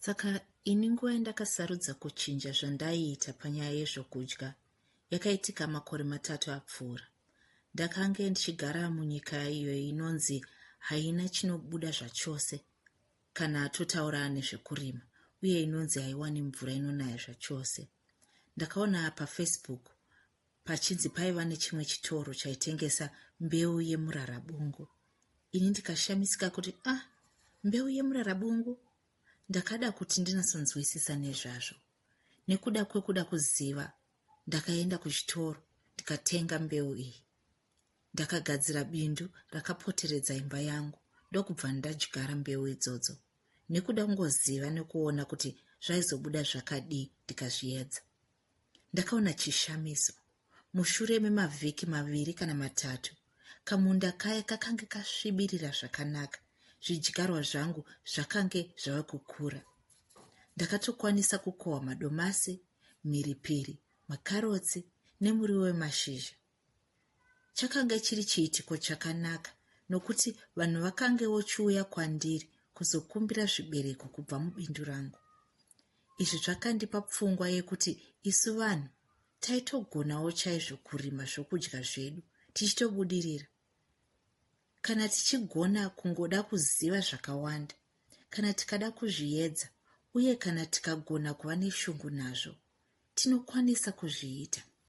Saka ini nguva yandakasarudza kuchinja zvandaiita panyaya yezvokudya yakaitika makore matatu apfuura. Ndakange ndichigara munyika iyo inonzi haina chinobuda zvachose kana totaura nezvekurima uye inonzi haiwani mvura inonaya zvachose. Ndakaona pafacebook pachinzi paiva nechimwe chitoro chaitengesa mbeu yemurarabungu ini ndikashamisika kuti a ah, mbeu yemurarabungu ndakada kuti ndinasonzwisisa nezvazvo nekuda kwekuda kuziva ndakaenda kuchitoro ndikatenga mbeu iyi ndakagadzira bindu rakapoteredza imba yangu ndokubva ndadyara mbeu idzodzo nekuda kungoziva nekuona kuti zvaizobuda zvakadii ndikazviedza Ndakaona chishamiso. Mushure memavhiki maviri kana matatu, kamunda kaya kakange kasvibirira zvakanaka. Zvidyarwa zvangu zvakange zvava kukura. Ndakatokwanisa kukohwa madomasi, mhiripiri, makarotsi nemuriwo wemashizha. Chakanga chiri chiitiko chakanaka nokuti vanhu vakange vochiuya kwandiri kuzokumbira zvibereko kubva mubindu rangu. Izvi zvakandipa pfungwa yekuti isu vanhu taitogonawo chaizvo kurima zvokudya zvedu tichitobudirira kana tichigona kungoda kuziva zvakawanda kana tikada kuzviedza uye kana tikagona kuva neshungu nazvo tinokwanisa kuzviita